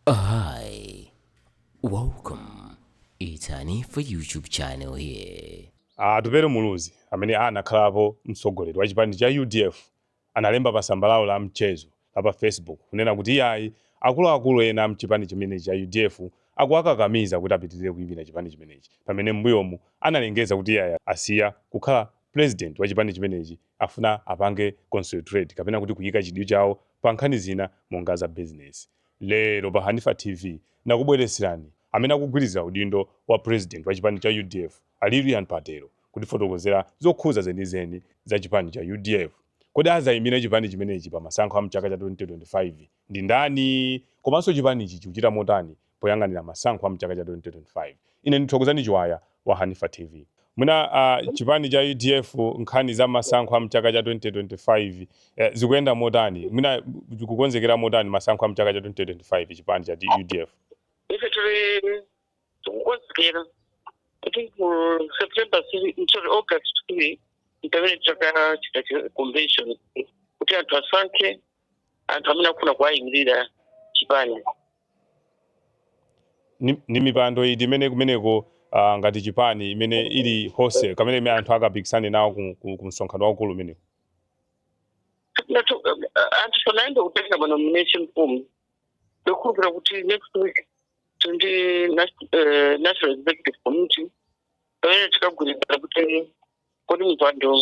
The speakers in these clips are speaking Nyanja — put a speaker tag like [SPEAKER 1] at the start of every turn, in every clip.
[SPEAKER 1] Hi, welcome. It's Hanifa YouTube channel here. Atupele
[SPEAKER 2] Muluzi amene anakhalapo mtsogoleri wa chipani cha udf analemba pa tsamba lawo la mchezo la pa Facebook kunena kuti iyayi akuluakulu ena a mchipani chimenechi cha udf akuwakakamiza kuti apitirire kuimira chipani chimenechi pamene m'mbuyomu analengeza kuti iyayi asiya kukhala president wa chipani chimenechi afuna apange concentrate kapena kuti kuyika chidwi chawo pa nkhani zina monga za business. Lero pa Hanifa TV nakubweretserani amene akugwirizira udindo wa President wa chipani cha udf a Lilian Patel kutifotokozera zokhuza zenizeni za chipani cha udf. Kodi azayimira chipani chimenechi pa masankho a mchaka cha 2025 ndi ndani? Komanso chipanichi chikuchita motani poyang'anira masankho a mchaka cha 2025? Ine ndi Thokozani Chiwaya wa Hanifa tv. Mwina chipani cha udf nkhani za masankho a mchaka cha 2025 zikuyenda motani? Mwina chikukonzekera motani masankho a mchaka cha 2025 chipani cha udf? Ife tiri tikukonzekera kuti
[SPEAKER 3] ku September sorry August tiri mpamene titakachita convention kuti anthu asankhe anthu amene akufuna kuwayimirira chipani.
[SPEAKER 2] ni, ni mipando iti imene kumeneko uh, ngati chipani imene ili hose kamene imene anthu akapikisane nawo ku, ku, ku msonkhano waukulu umenewu Ndatu-
[SPEAKER 3] eh, anthu sanayambe kutenga manomination form ndokhulupira kuti next week tili ndi national executive committee pamene tikagwirizana kuti kodi mipando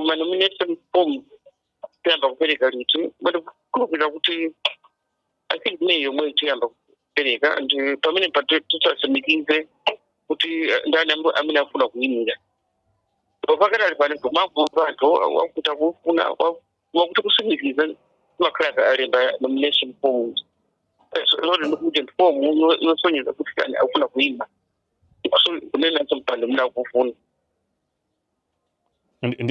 [SPEAKER 3] manomination form tiyamba kupereka liti but ndikukhulupirira kuti i think may yomwe tiyamba kupereka and uh, pamene titatsimikize kuti uh, ndani am- amene afuna kuyimira pakadali pano timamva anthu akuti akufuna wakuti kusimikiza mpaka alemba nomination forms lori ndikuti form yo- yosonyeza kuti kani akufuna kuyima kunena mpando muna kufuna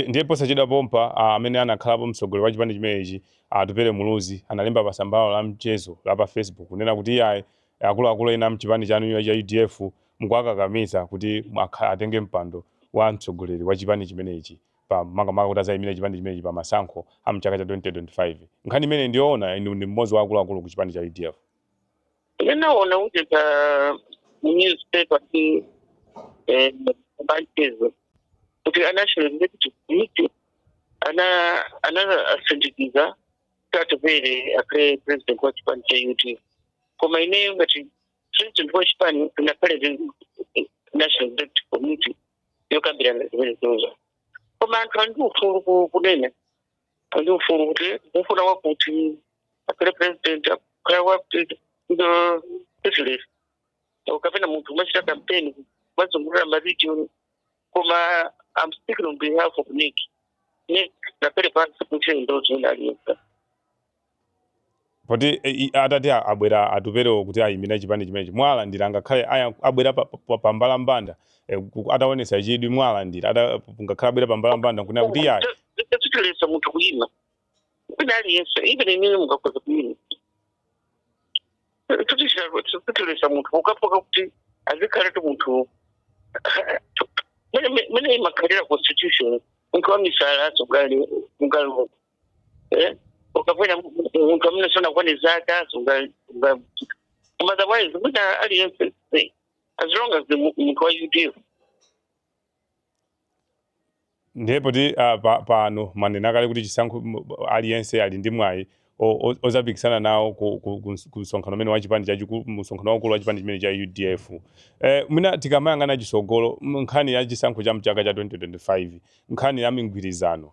[SPEAKER 2] Ndiye posachedwa pompa a amene anakhalapo mtsogoleri wa chipani chimenechi a Atupele Muluzi analemba pa tsamba lawo la mchezo la pa Facebook kunena kuti iyayi akuluakulu ena a mchipani chanu cha udf mukuwakakamiza kuti aka, atenge mpando wa mtsogoleri wa chipani chimenechi pa makamaka kuti azayimire chipani chimenechi pa masankho a mchaka cha 2025. Nkhani imeneyi ndiyoona? Inu ndi mmodzi wa akuluakulu ku chipani cha udf.
[SPEAKER 3] ndinaona kuti pa newspaper ti eh, ya mchezo kuti national executive committee ana ana asimikiza Atupele akhale president wa chipani cha UDF koma ineyo ngati president wa chipani sinakhale national executive committee yokambirana zimenezozo koma anthu ali ndi ufulu ku- kunena ndi ufulu kuti mukufuna wakuti akhale president akhale wakuti ndi president kapena munthu umachita campaign umazungulira maregion koma I'm speaking on behalf of nec nec inakhala pansi kuti ndo zina aliyense
[SPEAKER 2] Poti atati abwera Atuperewo kuti ayimire chipani chimenechi muwalandira ngakhale abwera pambalambanda atawonetsa chidwi muwalandira ngakhale abwera pambalambanda nkunena kuti iyayi. Sitiletsa munthu
[SPEAKER 3] kuyima wina aliyense even inuyo mungakhoza kuyima sitiletsa munthu pokhapokha kuti azikhala kuti munthu mmene imakhalira constitution munthu wamisala sangayime Eh? ukakhala munthu amene sunakwane zaka sunga- sunga- koma otherwise wina aliyense
[SPEAKER 2] sei. as long as ndi mu- munthu wa udf ndipo ah, pa- pano mwanena kale kuti chisankho m- aliyense ali ndi mwayi o- o- ozapikisana nawo ku- ku- ku ms- ku msonkhano umene wa chipani chachikulu msonkhano waukulu wa chipani chimene cha udf eh, mwina tikamayang'ana chisogolo m- nkhani ya chisankho cha mchaka cha 2025 nkhani ya migwirizano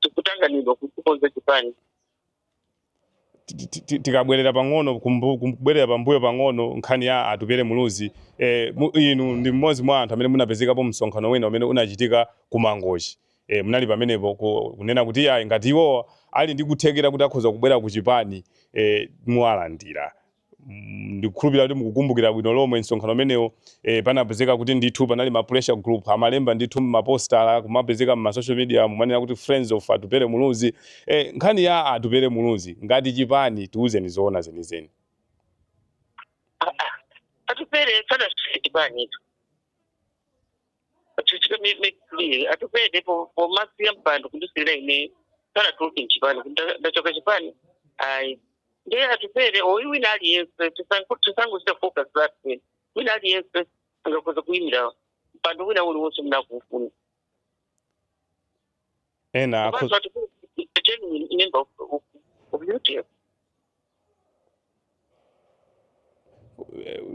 [SPEAKER 3] tikutanganidwa kuti tikonze
[SPEAKER 2] chipani ti- ti- ti- tikabwerera pang'ono kumbu- kubwerera pambuyo pang'ono nkhani ya atupere muluzi eh, mu- inu ndi mmodzi mwa anthu amene munapezekapo msonkhano wina umene unachitika ku mangochi eh, munali pamenepo ku- kunena kuti iyayi ngati iwo ali ndi kuthekera kuti akhoza kubwera ku chipani eh, muwalandira Mm, ndikukhulupirira kuti mukukumbukira bwino lomwe msonkhano umenewo e, panapezeka kuti ndithu panali ma pressure group amalemba ndithu mmapostala kumapezeka mma social media kumanena kuti friends of atupere muluzi e, nkhani ya atupere muluzi ngati chipani tiuzeni zoona
[SPEAKER 3] zenizeni atupere sanasiye chipanitu chichita mekli atupere pomasiya mpando kundisiyira ine sanatuluke mchipani kuti nda- ndachoka mchipani ayi ndiye atupere or wina aliyense tisango- tisangochita focus that wina aliyense angakhoza kuyimira mpando wina uliwonse atakuufuna
[SPEAKER 2] ena akho- Komanso ali ku- a genuine member of, of, of UDF.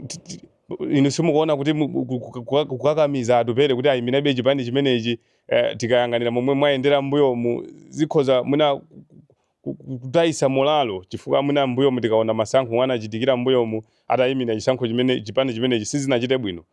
[SPEAKER 2] ti- ti- inu simukuona kuti mu- ku- ku- ku- ku- kukakamiza atupere kuti ayimirebe chipani chimenechi eh, tikayang'anira momwe mwayendera mbuyomu zikhoza mwina ku- ku- ku- kutayitsa molalo chifukwa mwina mbuyomu tikaona masankho omwe anachitikira mbuyomu atayimira chisankho chimene chipani chimenechi sizinachite bwino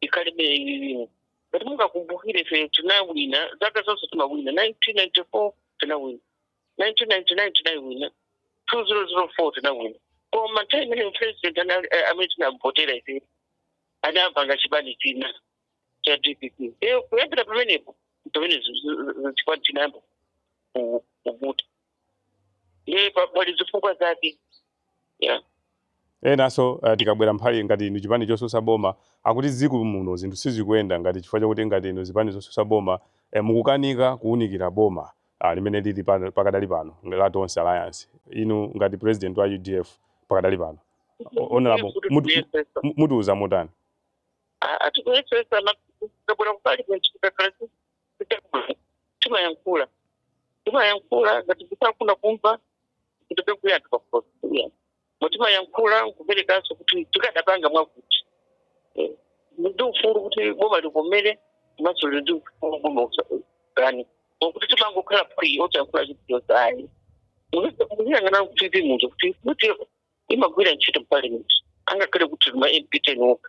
[SPEAKER 3] ikhalabe ililimo ngati mungakumbukire ife tinawina zaka zonse timawina 1994 tinawina 1999 tinawina 2004 tinawina koma nthawi imene president anali- eh, amene tinamvotera ife anapanga chipani china cha dpp Eh, kuyambira pamenepo pamene zi- zi- zi- chipani chinayamba ku- kuvuta ndi pa- pali zifukwa zake
[SPEAKER 2] yeah. enanso uh, tikabwera mphali ngati inu chipani chosusa boma akuti dziko muno zinthu sizikuyenda mwina chifukwa chakuti ngati inu zipani zosusa boma eh, mukukanika kuwunikira boma ah, limene lili pa- pakadali pano la tonse alliance inu ngati president wa udf pakadali pano O- honorable mutu- mu- mutiuza motani A-
[SPEAKER 3] ah tikuyesesa na- tikabwera ku parliament tikakhala si- timayankhula timayankhula ngati sakufuna kumva kutoke kuya anthu pakuposia mu timayankhula nkuperekanso kuti tikadapanga mwakuti Eh, ndi ufulu kuti boma litimvere komanso lili ndi ufulu boma kukana osati kuti timangokhala phi osayankhula chilichonse ayi muziyang'ana kuti ndi momwe tikuti timagwira ntchito mu parliament angakhale kuti ma mp ten okha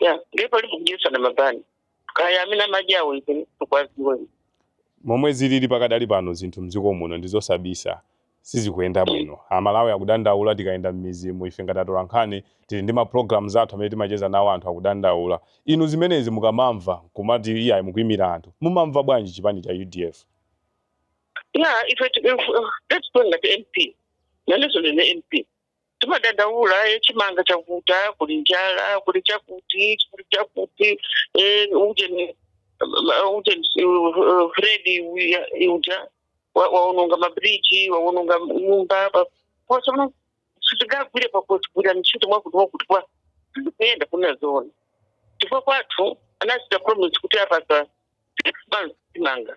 [SPEAKER 3] ya ndiye pali kudyetsa ndi mabanzi kaya amene amadya awo ife sitikuwaziwa
[SPEAKER 2] momwe zilili pakadali pano zinthu mdziko muno ndi zosabisa sizikuyenda bwino amalawi akudandaula tikayenda m'mizimu ife ngati atolankhani tili ndi ma programs athu amene timacheza nawo anthu akudandaula inu zimenezi mukamamva kumati iyayi mukuyimira anthu mumamva bwanji chipani cha udf
[SPEAKER 3] ya ife tikuyenda ngati mp nanenso ndine mp timadandaula e chimanga chavuta kuli njala kuli chakuti kuli chakuti e ujeni uh, ujeni uh, uh, freddy uya- uja wa- waononga mabridge waononga nyumba pa- pose muno sitingagwire tikuzigwira ntchito mwakuti mwakuti koma sizikuyenda kunena zoona chifukwa choti anachita promise kuti apasa six months chimanga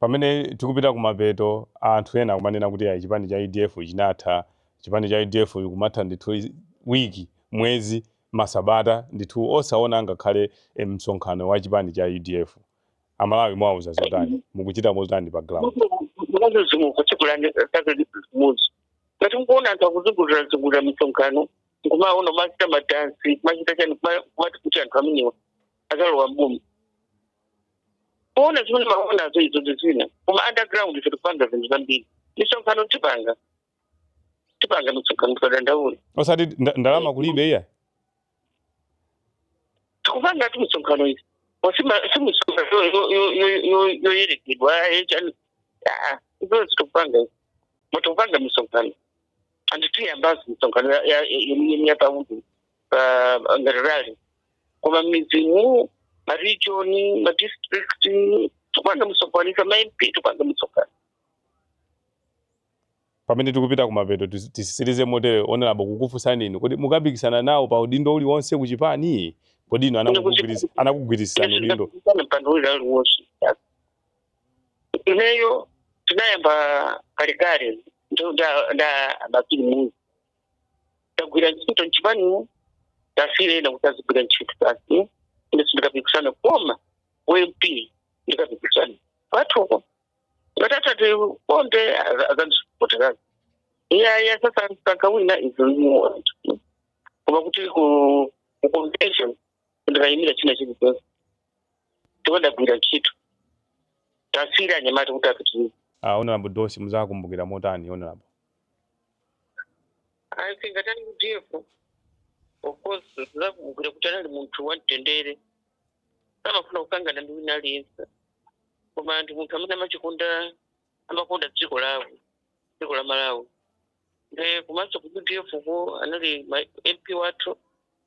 [SPEAKER 2] Pamene tikupita kumapeto, anthu ena akumanena kuti ayi chipani cha udf chinatha, chipani cha udf chikumatha ndithu week, mwezi, masabata ndithu osaona angakhale msonkhano wa chipani cha udf. A Malawi muwauza zotani? Mukuchita motani pa ground? Mukuona
[SPEAKER 3] zinthu ndikuuzeni kanthu kamodzi. Ngati mukuona anthu akuzungulira zungulira misonkhano, nkumaona kumachita madansi, kumachita chani, kuma- kumati kuti anthu amenewa azalowa mboma kuona zimene mumaonazo izo ndi zina koma underground ife tikupanga zinthu zambiri misonkhano tikupanga tikupanga misonkhano tikadandaula osati nda- ndalama
[SPEAKER 2] kulibe
[SPEAKER 3] iyayi tikupangatu misonkhano ife si misonkhano yoyerekedwa echani izo sitikupanga ife koma tikupanga misonkhano and tiyambaso misonkhano yemiyapaudu pa ngati rali koma mmidzimu maregion madistrict tikupanga misonkhano mamp tikupanga misonkhano
[SPEAKER 2] pamene tikupita kumapeto tis- titsirize motere honorable kukufunsani inu kuti mukapikisana nawo pa udindo uliwonse ku chipani kodi inu anakugwiris- anakugwirisirani udindo ana mpando uli
[SPEAKER 3] aliwonse ineyo tinayamba kalekale nda bakili muluzi tagwira ntchito mchipani tasiyira ena kuti azigwira ntchito basi ine sindikapikisana koma ump ndikapikisana pakhomo ngati atatikonde azandisupoterazi iyaya sasa mkaka wina izimuona koma kuti ku ku convention ndikayimira china chilichonse tinagwira ntchito tasiyira anyamata kuti apitirize Uh, Honorable
[SPEAKER 2] Dosi muzakumbukira motani
[SPEAKER 3] Honorable? I think ku udf of course ndizakumbukira kuti anali munthu wamtendere samafuna kukangana ndi wina aliyense koma anali munthu amene amachikonda amakonda dziko lawo dziko la malawi nde komanso ku udf ko anali mp wathu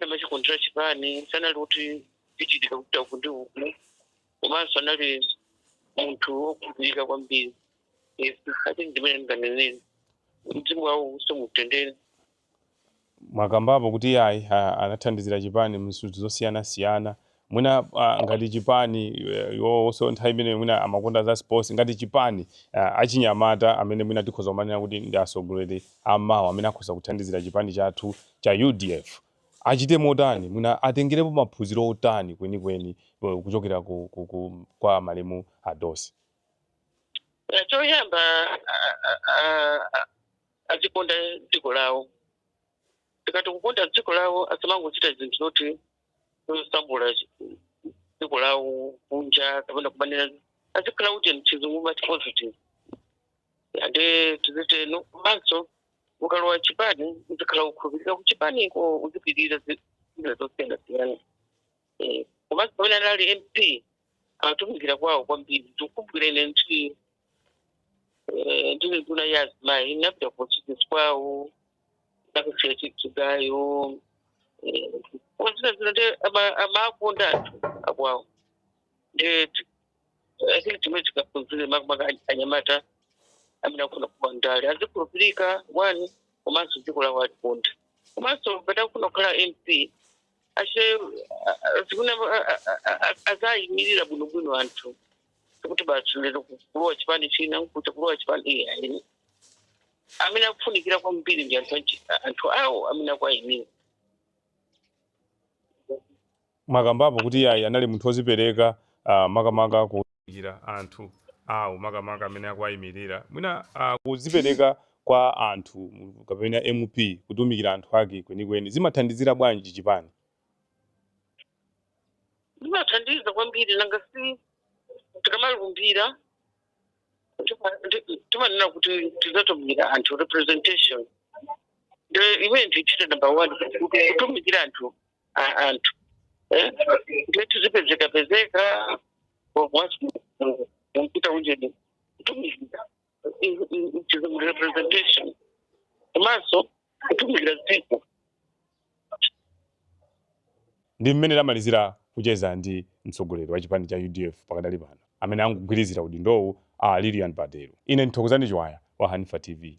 [SPEAKER 3] amachikondera chipani sanali kuti chichitika kupita uku ndi uku komanso anali munthu wokhulupirika kwambiri Yes, i think ndimene ndinganenere mzimu wawo uwuse
[SPEAKER 2] mumtendere mwakambapo kuti ayi a- anathandizira chipani mzinthu zosiyanasiyana mwina a, ngati chipani e, iwowonso nthawi imeneyo mwina amakonda za sports ngati chipani a, achinyamata amene mwina tikhoza kumanena kuti ndi atsogoleri ammawa amene akhoza kuthandizira chipani chathu cha udf achite motani mwina atengerepo maphunziro otani kwenikweni e, kuchokera ku, ku, ku, kwa malemu adosi Eh, choyamba
[SPEAKER 3] a- a- a- a- azikonda dziko lawo tikati kukonda dziko lawo asamangochita zinthu zoti kusambula dziko lawo kunja kapena kumanena azikhala kuti mchizungu umati positive ande tizitero komanso ukalowa chipani uzikhala wokhulupirika kuchipaniko uzipirira zinthu zosiyanasiyana Eh, komanso pamene anali mp atumikira kwawo kwambiri tikumbukira ntchito Eh, ndili nduna yazimayi inapita kutchalitchi kwawo nkukasiya chigayo ndi zina zina nde ama- amakonda anthu akwawo nde ti- i think zimene tingaphunzire makamaka any- anyamata amene akufuna kuyamba ndale azikhulupirika one komanso dziko lawo azilikonda komanso ngati akufuna kukhala mp ache zimene azayimirira bwinobwino anthu kuti basi lero kulowa chipani china kuti kulowa chipani iye ayini amene akufunikira kwambiri ndi anthu achi- anthu awo amene akuayimira
[SPEAKER 2] mwakambapo kuti iyayi anali munthu wozipereka ah, makamaka kutumikira anthu awo makamaka amene akuwayimirira mwina ah, kuzipereka kwa anthu mu- kapena mp kutumikira anthu ake kwenikweni zimathandizira bwanji chipani
[SPEAKER 3] zimathandiza kwambiri nanga si tikamalumbira tima- ndi- timanena kuti tizatumikira anthu representation nde imene imachita number one kuti kutumikira anthu a- anthu Eh? nde tizipezekapezeka mwampita unjeni kutumikira chizungulira representation komanso kutumikira dziko
[SPEAKER 2] ndi mmene tamalizira kucheza ndi mtsogoleri wa chipani cha udf pakadali pano amene akugwirizira udindowu a lilian patel ine mthokozani chiwaya wa hanifa tv